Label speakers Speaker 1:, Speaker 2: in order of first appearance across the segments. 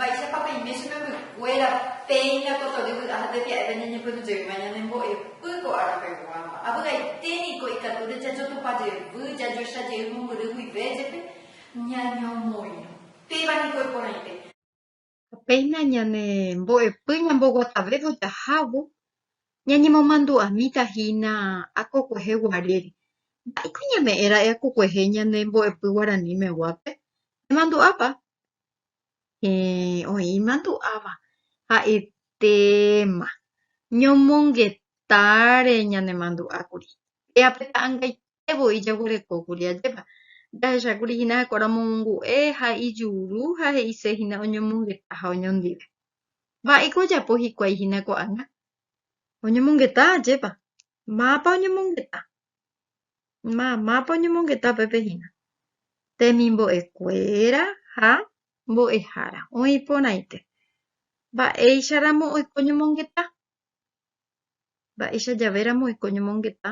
Speaker 1: Mba'éichapa peime che membykuéra péina kotory vy'a ha tepia'épe ñañepyrũjeýva ñanembo'epy ko árapeguáva. Avy'aite niko ikatúre jajotupa jevy, jajoecha jey mombyry guive jepe, ñañomoirõ. Péva niko iporãite. ha péina ñane mbo'epy ñamboguatavévo jahávo, ñañemomandu'amíta hína akokuehe guarére. Mba'éiko ñame'ẽra'e akokuehe ñane mbo'epy guarani meguápe? Nemandu'ápa? Héẽ, oĩ imandu'áva. Ha'etéma, ñomongetare ñanemandu'ákuri. Péa pe ta'ãngaite. Ha'e voi jaguerekókuri ajépa. Jahechákuri hína heko ramongu'e ha ijuru ha he'ise hína oñomongeta ha oñondive. Mba'éiko ojapo hikuái hína ko'ág̃a? Oñomongeta ajépa? Mápa oñomongeta? Ma, mápa oñomongeta upépe hína? Temimbo'ekuéra ha mbo'ehára oĩ porãite. Mba'éicharamo oiko oñomongeta? Mba'éicha javéramo oiko ñomongeta,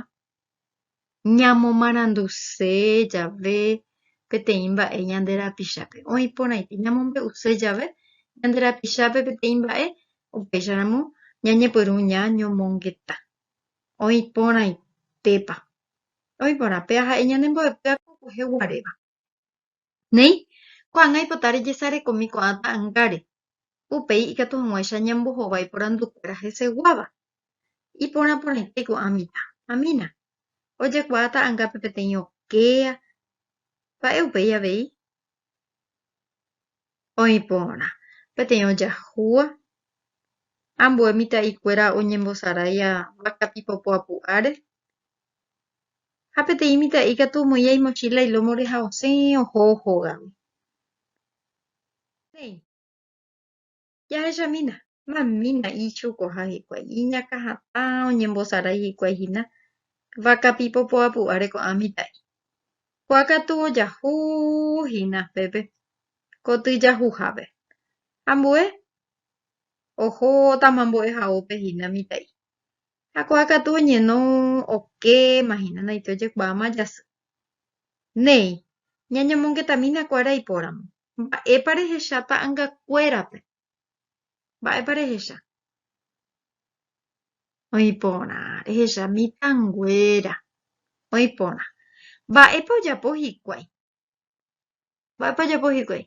Speaker 1: ñamomaranduse jave peteĩ mba'e ñande rapichápe. Oĩ porãite, ñamombe'use jave ñande rapichápe peteĩ mba'e, upéicharamo ñañepyrũ ñañomongeta. Oĩ porãitépa. Oĩ porã, péa ha'e ñanembo'epy akukuehe guaréva. Néi, ko'ág̃a ipota rejesarekomi ko'ã ta'angáre, upéi ikatu hag̃uáicha ñambohova iporandukuéra heseguáva. Iporã porãite ko'ã mitã. Amina. Ojekuaa ta'angápe peteĩ okéa. Mba'e upéi avei? oĩ porã peteĩ ojahúva, ambue mitã'ikuéra oñembosaráia vaka pipopo apu'áre, ha peteĩ mitã'i katu omoĩva imochíla ilómore ha osẽ oho hógagui. Péi. jahechamína. Mamína ichukoha hikuái, iñakãhatã, oñembosarái hikuái hína vaka pipo poapu'áre ko'ã mitã'i. Ko'ã katu ojahu hína pépe koty jahuhápe. Ambue oho tama mbo'ehaópe hína mitã'i. Ha ko'ã katu oñeno okéma hína naite ojekuaáma jasy. Néi, ñañomongetamína kuára ipóramo. Mba'épa rehecha ta'angakuérape? Mba'épa rehecha? Oĩ porã rehecha mitãnguéra. Oĩ porã. Mba'épa ojapo hikuái? Mba'épa ojapo hikuái?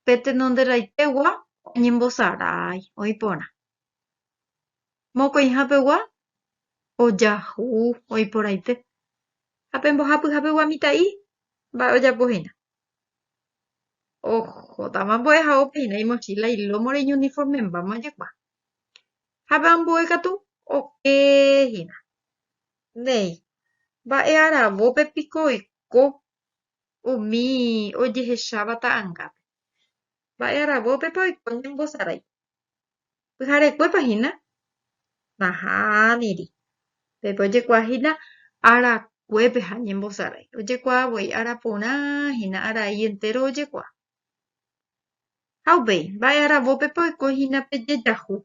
Speaker 1: Pe tenonderãitegua oñembosarái. Oĩ porã. Mokõiha pegua ojahu oiporaite ha pe mbohapyha pegua mitã'i mba'e ojapo hína. Ohótama mbo'ehaópe hína imochíla, ilómo, reiñuniformembáma ojekuaa. Ha pe ambue katu oke hína. Néi, mba'e aravópe piko oiko umi ojehecháva ta'angápe? Mba'e aravópepa oiko ñembosarái? Pyharekuépa hína? Nahániri. Pépe ojekuaa hína arakuépe ha ñembosarái. Ojekuaa voi ára porã hína arai entéro ojekuaa. Ha upéi, mba'e aravópepa oiko hína pe jejahu?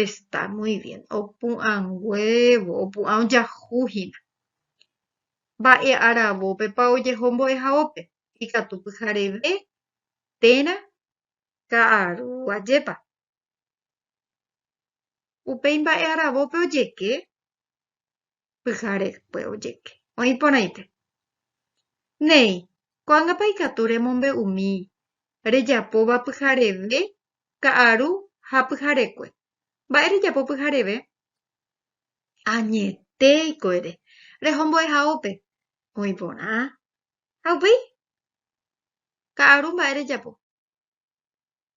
Speaker 1: Esta muy bien. Opu'ãnguévo, opu'ã ojahu hína. Mba'e aravópepa ojeho mbo'ehaópe? ikatu pyhareve térã ka'aru ajépa. Upéi mba'e aravópe ojeke, pyharekue ojeke. Oĩ porãite. Néi, ko'ágapa ikatu remombe'umi rejapóva pyhareve ka'aru ha pyharekue. Mba'e rejapo pyhareve? Añetéiko ere, rehombo'ehaópe, oĩ porã ha upéi ka'aru mba'e rejapo.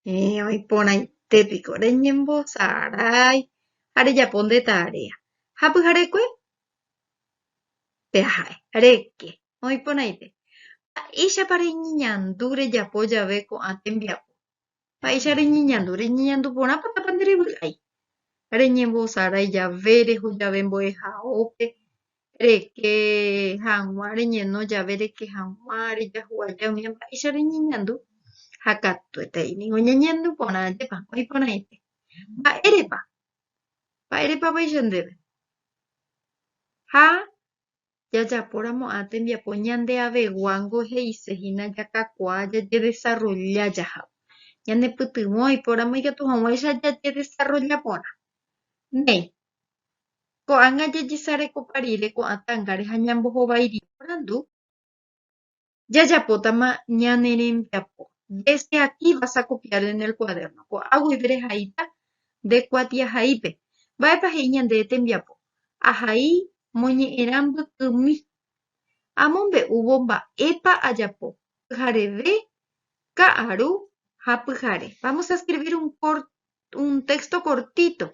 Speaker 1: Héẽ, oĩporãite piko reñembosarái ha rejapo nde tarea ha pyharekue peha'e reke. Oĩporãite. Mba'éichapa reñeñandu rejapo jave ko'ã tembiapo? Mba'éicha reñeñandu? Reñeñandu porãpa tapa nde revy'ái. Reñembosarái jave, reho jave mbo'ehaópe, reke hag̃ua, reñeno jave reke hag̃ua, rejahuaja umi mba'éicha reñeñandu. Ha katuetai ningo ñañeñandu porã ajépa, oĩ porãite. Mba'érepa? Mba'érepa vaicha ndéve? Ha jajaporamo'ã tembiapo ñandeaveguángo he'ise hína jakakuaa jajedesarrolla jahávo. Ñanepytyvõ oipóramo ikatu hag̃uáicha jajedesarrolla porã. Néi, ko'ág̃a jajesarekopa rire ko'ã tángare ha ñambohovairire porandu. jajapótama ñane rembiapo. Desde aquí vas a copiar en el cuaderno. Ko'ã guive rehaíta nde kuatiahaípe. Mba'épa he'i ñande tembiapo? Ahai moñe'ẽrã mbykymi. Amombe'úvo mba'épa ajapo, pyhareve, ka'aru ha pyhare. Vamos a escribir un corto un texto cortito,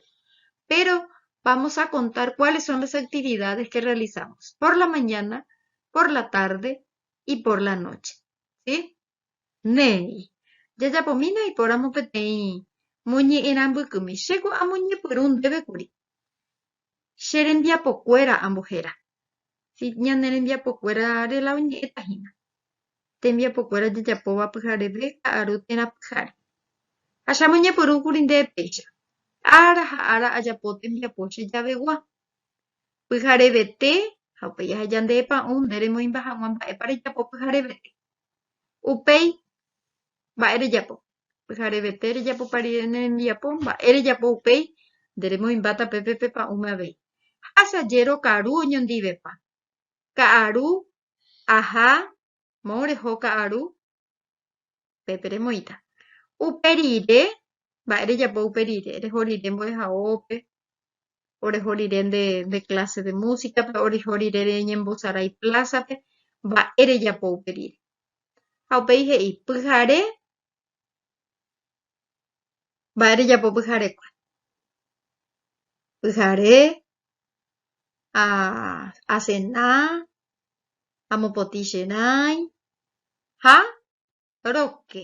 Speaker 1: pero vamos a contar cuáles son las actividades que realizamos por la mañana, por la tarde y por la noche. ¿Sí? Néi, jajapomína ipóramo peteĩ moñe'ẽrãmbykymi, chéko amoñepyrũ ndéve kuri. Che rembiapokuéra ambohéra. Si ñane rembiapokuéra rela oñe'ẽta hína. Tembiapokuéra jajapóva pyhareve ka'aru térã pyhare. Ha che amoñepyrũ kuri ndéve péicha. Ára ha ára ajapo tembiapo che javegua. Pyharevete ha upéi aheja nde epa'ũ nde remoĩmba hag̃ua mba'épa rejapo pyharevete. Upéi, mba'e rejapo. pyharevete rejapopa rire ne rembiapo, mba'e rejapo upéi, nde remoĩmbáta pépe pe pa'ũme avei. Hácha jero karu oñondivepa. Ka'aru, aha, mo reho ka'aru, pépe remoĩta. Upe rire, mba'e rejapo upe rire, reho rire mbo'ehaópe, oreho rire nde clase de música-pe, oreho rire reñembosarái plaza-pe, mba'e rejapo upe rire. Ha upéi he'i, Pyhare, mba'e rejapo pyharekue. Pyhare, asena, amopotĩ che rãi ha Roque,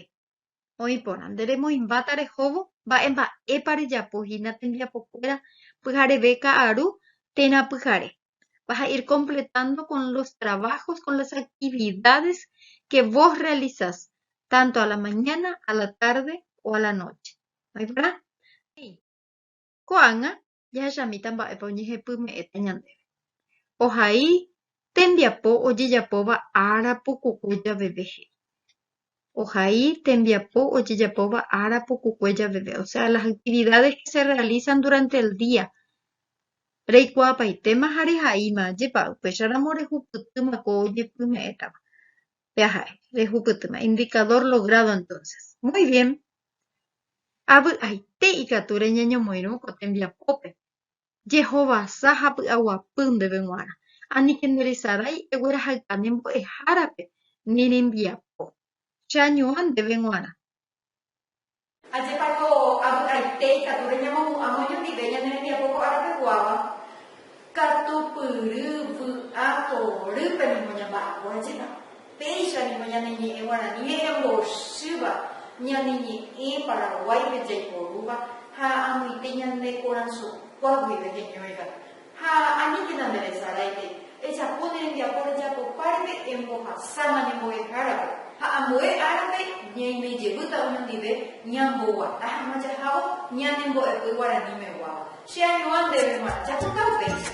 Speaker 1: Oĩ porã, nde remoĩmbáta rehóvo mba'e mba'épa rejapo hína tembiapokuéra pyhareve ka'aru térã pyhare. Vas a ir completando con los trabajos, con las actividades que vos realizás, tanto a la mañana, a la tarde o a la noche. Oĩ porã? He'i, Ko'ág̃a jahechamíta mba'épa oñehepyme'ẽta ñandéve. Ohai tembiapo ojejapóva ára pukukue javeve he'i. Ohai tembiapo ojejapóva ára pukukue javeve, o sea, las actividades que se realizan durante el día. Reikuaapaitéma ha rehaíma, ajépa upéicharamo rehupytýma ko ojepyme'ẽtava. Péa ha'e, rehupytýma. Indicador logrado entonces. Muy bien. Avy'aite ikatu reñeñomoirũ ko tembiapópe. Jehovasa ha py'aguapy ndéve g̃uarã. Aníke nderesarái eguerahaykane mbo'ehárape ni rembiapo. Cheañuã ndéve g̃uarã. Ajépa ko avy'aite ikatu reñamopu'ãvo ñandive ñane rembiapo ko ára peguáva, katupyry, vy'a, torýpe ningo ñamba'apo. Ajépa péicha ningo ñane ñe'ẽ guarani he'ẽ mbochýva ñane ñe'ẽ Paraguáipe jaiporúva ha amoite ñane korasõkuá guive heñóiva. Ha aníkena nderesaráike, ejapo ne rembiapo rejapopárepe embohasáma ne mbo'ehárape, ha ambue árape ñaimejevýta oñondive ñamboguata hag̃ua jahávo ñane mbo'epy guarani meguáva. Che añuã ndéve g̃uarã, japota upéicha.